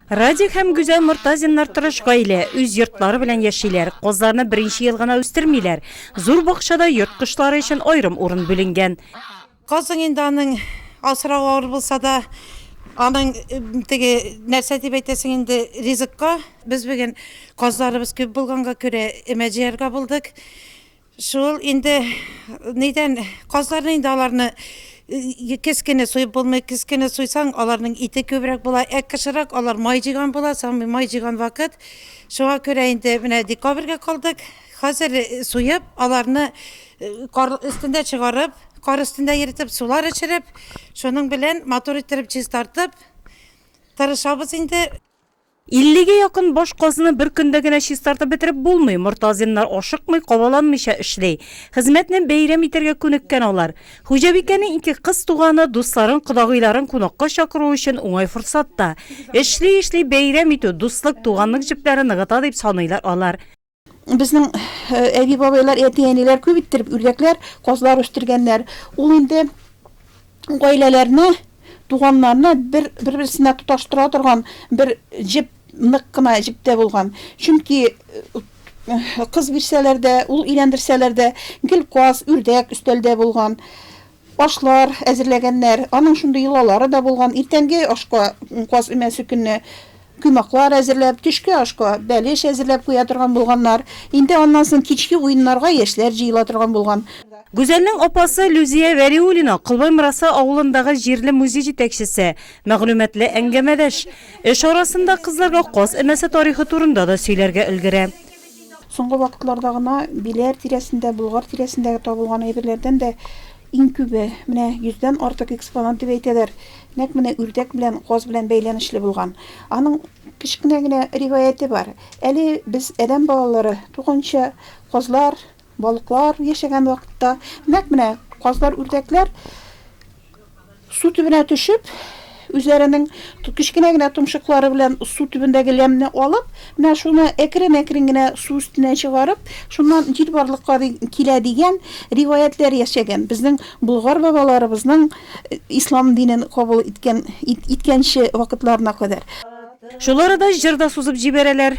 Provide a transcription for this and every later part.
Радик һәм Гүзәл Мортазиннар тырыш гаилә, үз йортлары белән яшиләр. Козларны беренче ел гына үстермиләр. Зур бакчада йорт кошлары өчен аерым урын бүленгән. Казың инде аның асрау авыр булса да, аның теге нәрсә дип әйтәсең инде ризыкка. Без бүген казларыбыз күп булганга күрә өмә җыярга булдык. Шул инде нидән казларны инде аларны кез генә суеп булмый, кез генә суйсаң, аларның ите күбрәк була. Ә кышырак алар май җыйган була, самый май җыйган вакыт. Шуңа күрә инде менә декабрьгә калдык. Хәзер суеп, аларны кар өстендә чыгарып, кар өстендә йөртеп, сулар эчереп, шуның белән матур иттереп чистартып тырышабыз инде. Иллегә якын баш казны бер көндә генә чистартып бетереп булмый. Мортазиннар ашыкмый, кабаланмыйча эшли. Хезмәтне бәйрәм итәргә күнеккән алар. Хуҗабикәнең ике кыз туганы, дусларын, кодагыйларын кунакка чакыру өчен уңай форсат та. Эшли-эшли бәйрәм итү, дуслык, туганлык җепләре ныгыта дип саныйлар алар. Безнең әби-бабайлар, әти-әниләр күп иттереп үрдәкләр, казлар үстергәннәр. Ул инде гаиләләрне, туганнарны бер-берсенә тоташтыра торган бер җеп, нык кына җеп тә булган. Чөнки кыз бирсәләр дә, ул өйләндерсәләр дә, гел каз, үрдәк өстәлдә булган. Ашлар әзерләгәннәр. Аның шундый йолалары да булган, иртәнге ашка каз өмәсе көнне коймаклар әзерләп, төшке ашка бәлеш әзерләп куя торган булганнар. Инде аннан соң кичке уеннарга яшьләр җыела торган булган. Гүзәлнең апасы Люзия Вәлиуллина, Колбай Мырасы авылындагы җирле музей җитәкчесе, мәгълүматлы әңгәмәдәш. Эш арасында кызларга каз өмәсе тарихы турында да сөйләргә өлгерә. Соңгы вакытларда гына Биләр тирәсендә, Болгар тирәсендә табылган әйберләрдән дә иң күбе, менә йөздән артык экспонат дип әйтәләр, нәкъ менә үрдәк белән каз белән бәйләнешле булган. Аның кечкенә генә риваяте бар. Әле без, адәм балалары, туганчы казлар, Балыклар яшәгән вакытта, нәкъ менә казлар, үрдәкләр су төбенә төшеп, үзләренең кечкенә генә томшыклары белән су төбендәге ләмне алып, менә шуны әкрен-әкрен генә су өстенә чыгарып, шуннан җил барлыкка килә дигән риваятьләр яшәгән. Безнең болгар бабаларыбызның ислам динен кабул иткән иткәнче вакытларына кадәр. Шул арада җыр да сузып җибәрәләр.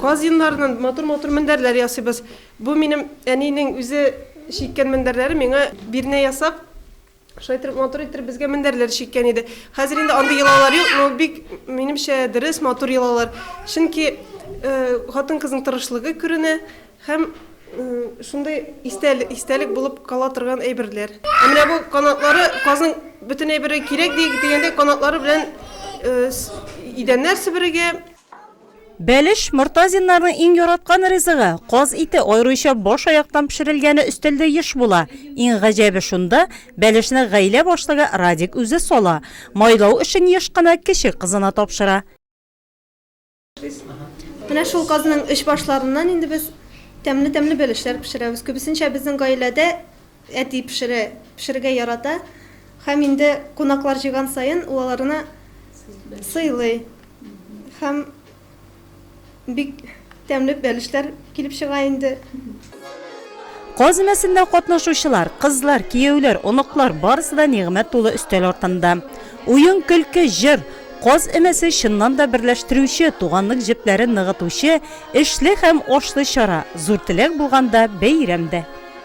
Казиннардан матур-матур мендәрләр ясыйбыз. Бу минем әнинең үзе чиккән мендәрләре. Миңа бирнә ясап, шулай иттереп, матур иттереп безгә мендәрләр чиккән иде. Хәзер инде андый йолалар юк, но бик, минемчә, дөрес, матур йолалар. Чөнки хатын-кызның тырышлыгы күренә һәм шундый истәлек булып кала торган әйберләр. Ә менә бу канатлары, казның бөтен әйбере кирәк дигәндәй, канатлары белән идәннәр себерергә. Бәлеш, мортазиннарның иң яраткан ризыгы. Каз ите, аеруча баш-аяктан пешерелгәне өстәлдә еш була. Иң гаҗәбе шунда, бәлешне гаилә башлыгы Радик үзе сала. Майлау эшен еш кына кече кызына тапшыра. Менә шул казның өч башларыннан инде без тәмле-тәмле бәлешләр пешерәбез. Күбесенчә безнең гаиләдә Әти пешерә, пешерергә ярата һәм инде кунаклар җыйган саен ул аларны сыйлый һәм бик тәмле бәлешләр килеп чыга инде. Каз өмәсендә катнашучылар, кызлар, кияүләр, оныклар, барысы да нигъмәт тулы өстәл артында. Уен, көлке, җыр. Каз өмәсе, чыннан да берләштерүче, туганлык җепләрен ныгытучы, эшле һәм ашлы чара, зур теләк булганда, бәйрәм дә.